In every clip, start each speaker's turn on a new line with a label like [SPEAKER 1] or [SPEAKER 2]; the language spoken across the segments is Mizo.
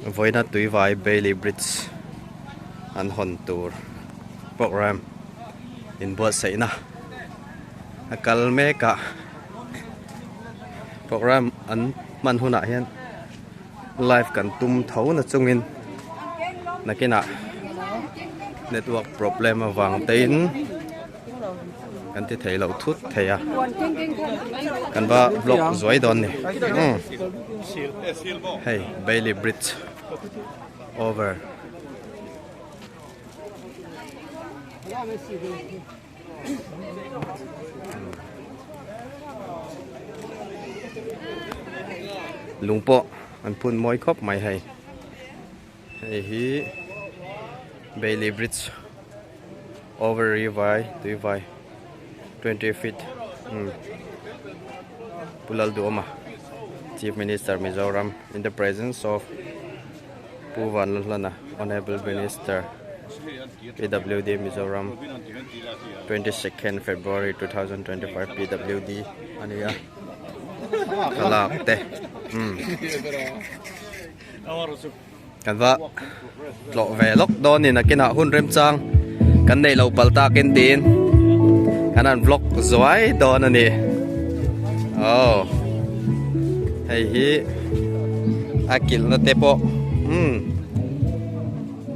[SPEAKER 1] Vawiina Tuivai Bailey Bridge an hawn tur programme inbuatsaihna a kal mek a, programme an hman hunah hian live kan tum tho na chungin nakinah network problem avangte in. Kan ti thei lo thut thei a. Kan va vlog zuai dawn ni. Hmm. Hei, Bailey Bridge over. Lungpawh an phun mawi khawp mai hei. Hei hi Bailey Bridge over ri vai tui vai twenty feet umm Pu Lalduawma Chief Minister Mizoram in the presence of Pu Vanlalhlana Honourable Minister PWD Mizoram twenty second February two thousand twenty five PWD a ni a thlalak te umm. Kan va tlawh ve lawk dawn in akinah hun remchang kan neih lo pal takin tiin kan han vlog zuai dawn a ni. Oh. Hei hi a kilna te pawh. Hmm.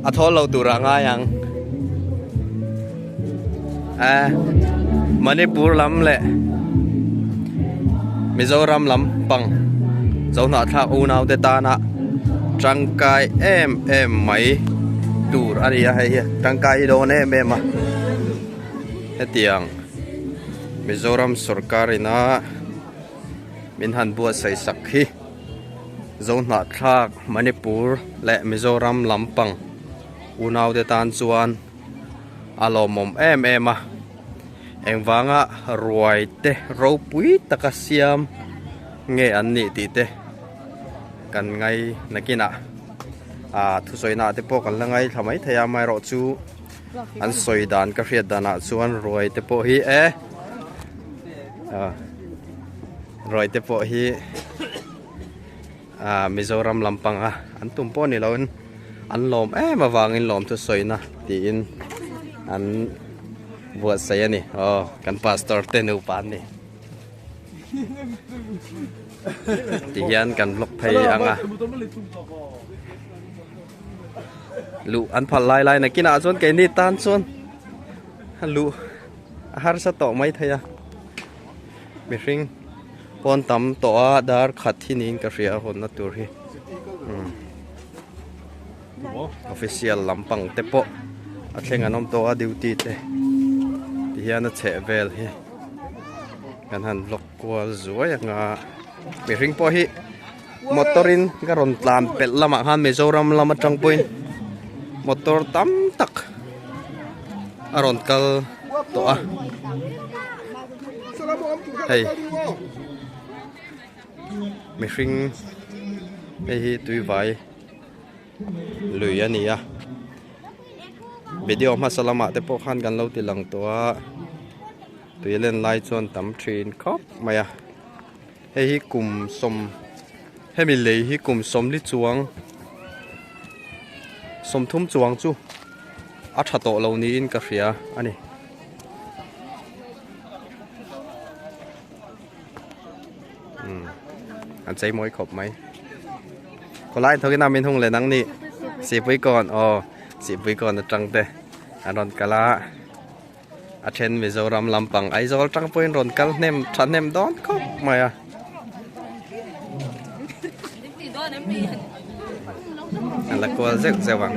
[SPEAKER 1] A thawl lo tur ah ngai ang eh Manipur lam leh Mizoram lam pang Zo hnah thlak u nau te tan a tangkai em em mai tur a nia hei hian tangkai hi dawn em em a hetiang Mizoram sorkar in a min han buatsaih sak hi. Zohnahthlak Manipur leh Mizoram lampang unaute tan chuan a lawmawm em em a, engvanga ruai te ropui taka siam nge an nih tih te kan ngai nakinah aaa thusawi nahte pawh kan la ngai thla mai thei a, amaherawh chu an sawi dan ka hriat danah chuan ruai te pawh hi eehh aah. Rawi te pawh hi ah Mizoram lampang a an tum pawh ni loin an lawm em avangin lawmthu sawina tiin an buatsaih a ni aw kan pastor te nupa an ni tihian kan vlog phei anga lu an phal lai lai nakina chuan kei ni tan chuan lu a harsa tawh mai thei a Mihring pawn tam tawh a dar khat hi niin ka hria a hawnna tur hi official lampang te pawh a thleng an awm tawh a duty te ti hian a chheh vel hi kan han vlog kual zuai anga mihring pawh hi motor in ka rawn tlan pelh lamah khan Mizoram lam atang pawhin motor tam tak a rawn kal tawh a hei mihring hei hi tuivai lui a ni a video hmasa lamah te pawh khan kan lo ti lang tawh a tui len lai chuan tam thin khawp mai a. Hei hi kum sawm hemi lei hi kum sawmli chuang sawmthum chuang chu a tha tawh lo niin ka hria a ni. an chei mawi khawp mai khawlai thokin a min hung le nang ni sihpuikawng aw sihpuikawng atangte an rawn kal a A then Mizoram lampang Aizawl tang pawhin rawn kal hnem tha hnem dawn khawp mai a. A la kual zeuh zeuh ang.